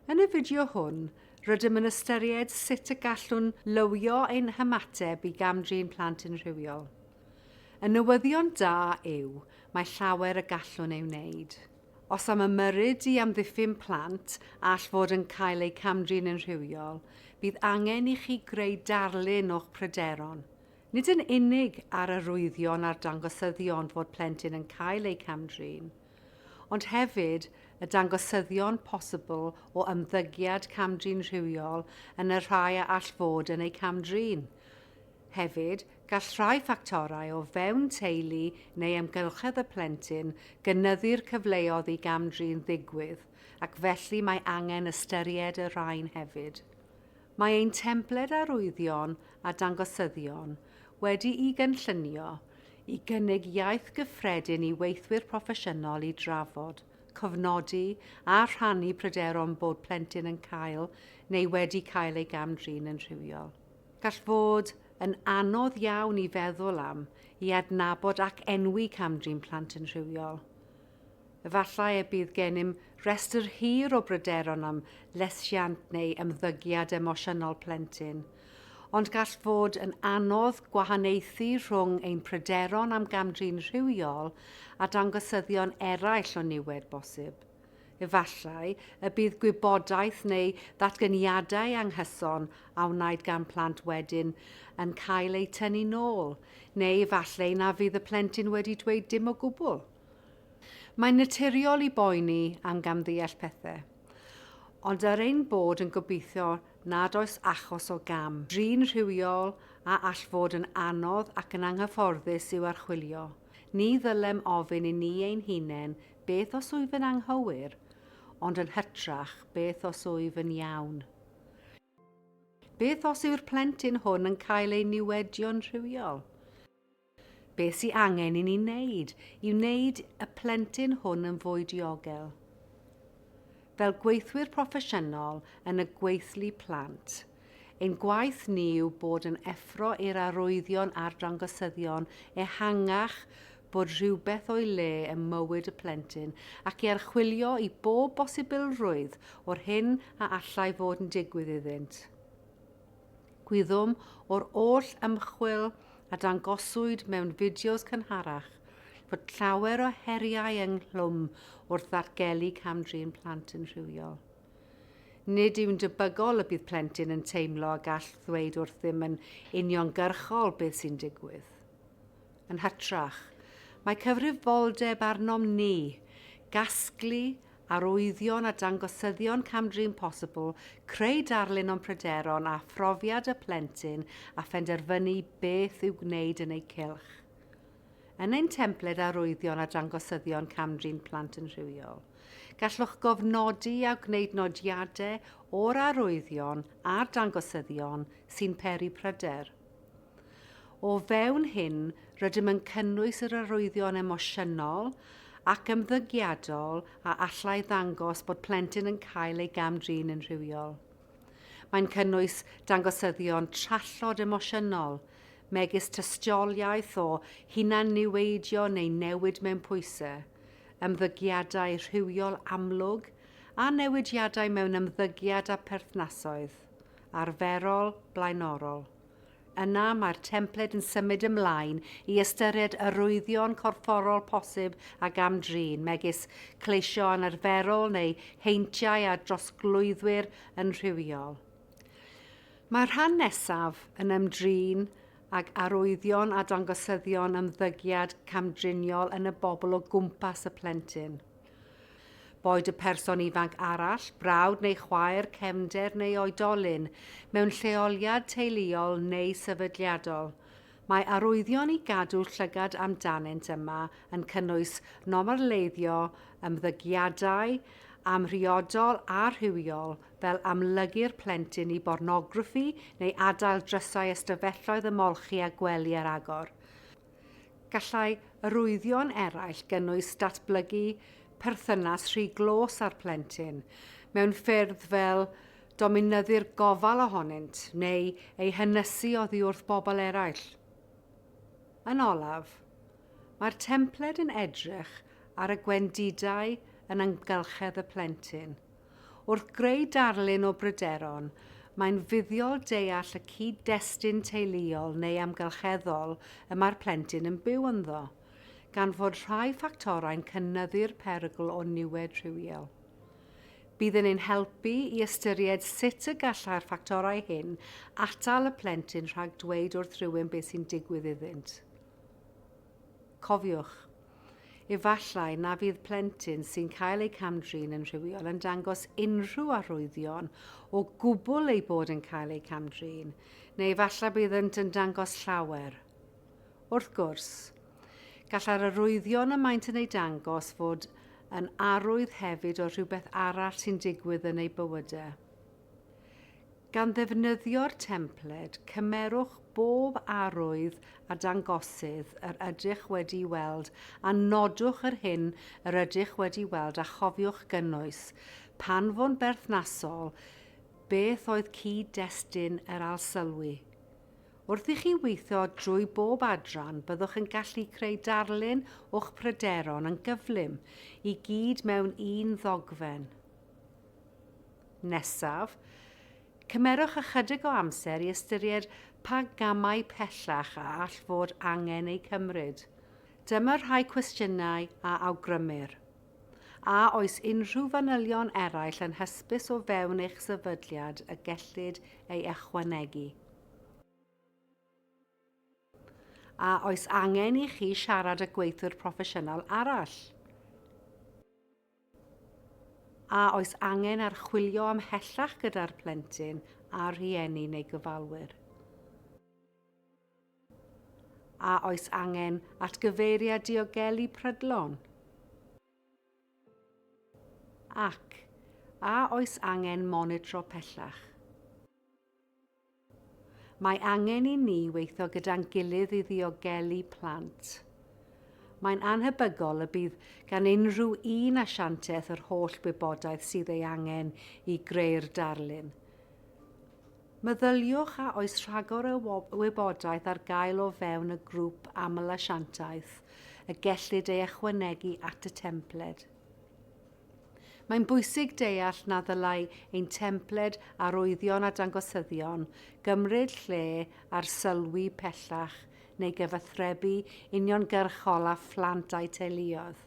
Yn y fideo hwn, rydym yn ystyried sut y gallwn lywio ein hymateb i gam-drin plant yn rhywiol. Y newyddion da yw, mae llawer y gallwn ei wneud. Os am ymyrryd i amddiffyn plant all fod yn cael eu camdrin yn rhywiol, bydd angen i chi greu darlun o'ch pryderon, Nid yn unig ar arwyddion a'r dangosyddion fod plentyn yn cael eu cam-drin, ond hefyd y dangosyddion posibl o ymddygiad cam-drin rhywiol yn y rhai a all fod yn eu cam-drin. Hefyd, gall rhai ffactorau o fewn teulu neu amgylchedd y plentyn gynyddu'r cyfleodd i gam-drin ddigwydd ac felly mae angen ystyried y rhain hefyd. Mae ein templed arwyddion a dangosyddion wedi'i gynllunio i gynnig iaith gyffredin i weithwyr proffesiynol i drafod, cofnodi a rhannu pryderon bod plentyn yn cael neu wedi cael ei gam-drin yn rhywiol. Gall fod yn anodd iawn i feddwl am, i adnabod ac enwi cam-drin plant yn rhywiol. Efallai y bydd gennym restr hir o bryderon am lesiant neu ymddygiad emosiynol plentyn, ond gall fod yn anodd gwahaniaethu rhwng ein pryderon am gam-drin rhywiol a dangosyddion eraill o niwed bosib. Efallai y bydd gwybodaeth neu ddatganiadau anghyson a wnaed gan plant wedyn yn cael eu tynnu'n ôl, neu efallai na fydd y plentyn wedi dweud dim o gwbl. Mae'n naturiol i boeni am gamddeall pethe, ond er ein bod yn gobeithio nad oes achos o gam drin rhywiol a all fod yn anodd ac yn anghyfforddus i'w archwilio, ni ddylem ofyn i ni ein hunain beth os wyf yn anghywir, ond yn hytrach beth os wyf yn iawn? Beth os yw'r plentyn hwn yn cael ei niwedio'n rhywiol? Beth sy angen i ni wneud i wneud y plentyn hwn yn fwy diogel? Fel gweithwyr proffesiynol yn y gweithlu plant, ein gwaith ni yw bod yn effro i'r arwyddion a'r dangosyddion ehangach bod rhywbeth o'i le ym mywyd y plentyn ac i archwilio i bob bosibilrwydd o'r hyn a allai fod yn digwydd iddynt. Gwyddom o'r oll ymchwil a dangoswyd mewn fideos cynharach fod llawer o heriau ynghlwm wrth ddatgelu cam-drin plant yn rhywiol. Nid yw'n debygol y bydd plentyn yn teimlo a gall ddweud wrthym yn uniongyrchol beth sy'n digwydd. Yn hytrach, mae cyfrifoldeb arnom ni gasglu arwyddion a dangosyddion cam-drin posibl, creu darlun o'n pryderon a phrofiad y plentyn a phenderfynu beth i'w gwneud yn eu cylch. Yn ein templed arwyddion a dangosyddion cam-drin plant yn rhywiol, gallwch gofnodi a gwneud nodiadau o'r arwyddion a'r dangosyddion sy'n peri pryder. O fewn hyn, rydym yn cynnwys yr arwyddion emosiynol ac ymddygiadol a allai ddangos bod plentyn yn cael ei gam-drin yn rhywiol. Mae'n cynnwys dangosyddion trallod emosiynol, megis tystiolaeth o hunan-niweidio neu newid mewn pwysau, ymddygiadau rhywiol amlwg a newidiadau mewn ymddygiad a pherthnasoedd arferol blaenorol. Yna mae'r templed yn symud ymlaen i ystyried arwyddion corfforol posib a gam-drin, megis cleisio anarferol neu heintiau a drosglwyddwyr yn rhywiol. Mae'r rhan nesaf yn ymdrin ag arwyddion a dangosyddion ymddygiad camdriniol yn y bobl o gwmpas y plentyn. Boed y person ifanc arall, brawd neu chwaer, cefnder neu oedolyn, mewn lleoliad teuluol neu sefydliadol, mae arwyddion i gadw llygad amdanynt yma yn cynnwys nomerleiddio ymddygiadau amhriodol a rhywiol fel amlygu'r plentyn i bornograffi neu adael drysau ystafelloedd ymolchi a gwely ar agor. Gallai arwyddion eraill gynnwys datblygu perthynas rhy glos â'r plentyn mewn ffyrdd fel dominyddu'r gofal ohonynt neu ei hynysu oddi wrth bobl eraill. Yn olaf, mae'r templed yn edrych ar y gwendidau yn amgylchedd y plentyn. Wrth greu darlun o bryderon, mae'n fuddiol deall y cyd-destun teuluol neu amgylcheddol y mae'r plentyn yn byw ynddo, gan fod rhai ffactorau'n cynyddu'r perygl o niwed rhywiol. Bydd yn ein helpu i ystyried sut y gallai'r ffactorau hyn atal y plentyn rhag dweud wrth rywun beth sy'n digwydd iddynt. Cofiwch, efallai na fydd plentyn sy'n cael eu cam-drin yn rhywiol yn dangos unrhyw arwyddion o gwbl eu bod yn cael eu cam-drin, neu efallai byddant yn dangos llawer. Wrth gwrs, gallai'r arwyddion y maent yn eu dangos fod yn arwydd hefyd o rhywbeth arall sy'n digwydd yn eu bywydau. Gan ddefnyddio'r templed, cymerwch bob arwydd a dangosydd yr ydych wedi'i weld a nodwch yr hyn yr ydych wedi'i weld a chofiwch gynnwys, pan fo'n berthnasol, beth oedd cyd-destun yr alsylwi. Wrth i chi weithio drwy bob adran, byddwch yn gallu creu darlun o'ch pryderon yn gyflym, i gyd mewn un ddogfen. Nesaf, cymerwch ychydig o amser i ystyried pa gamau pellach a all fod angen eu cymryd. Dyma rhai cwestiynau a awgrymir. A oes unrhyw fanylion eraill yn hysbys o fewn eich sefydliad y gellid ei ychwanegu? A oes angen i chi siarad â gweithiwr proffesiynol arall? A oes angen archwilio ymhellach gyda'r plentyn a rhieni neu gyfalwyr? A oes angen atgyfeiriad diogelu prydlon? Ac, a oes angen monitro pellach? Mae angen i ni weithio gyda'n gilydd i ddiogelu plant. Mae'n annhebygol y bydd gan unrhyw un asiantaeth yr holl wybodaeth sydd ei angen i greu'r darlun. Meddyliwch a oes rhagor o wybodaeth ar gael o fewn y grŵp aml-asiantaeth y gellid ei ychwanegu at y templed. Mae'n bwysig deall na ddylai ein templed arwyddion a dangosyddion gymryd lle arsylwi pellach neu gyfathrebu uniongyrchol â phlant a'u teuluoedd.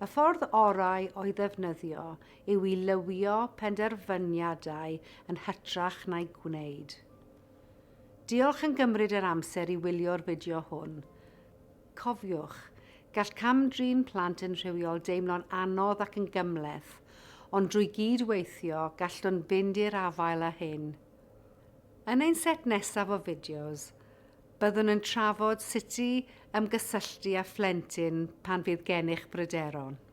Y ffordd orau o'i ddefnyddio yw i lywio penderfyniadau yn hytrach na'u gwneud. Diolch yn gymryd yr amser i wylio'r fideo hwn. Cofiwch, gall cam-drin plant yn rhywiol deimlo'n anodd ac yn gymhleth, ond drwy gyd-weithio, gallwn fynd i'r afael â hyn. Yn ein set nesaf o fideos, byddwn yn trafod sut i ymgysylltu â phlentyn pan fydd gennych bryderon.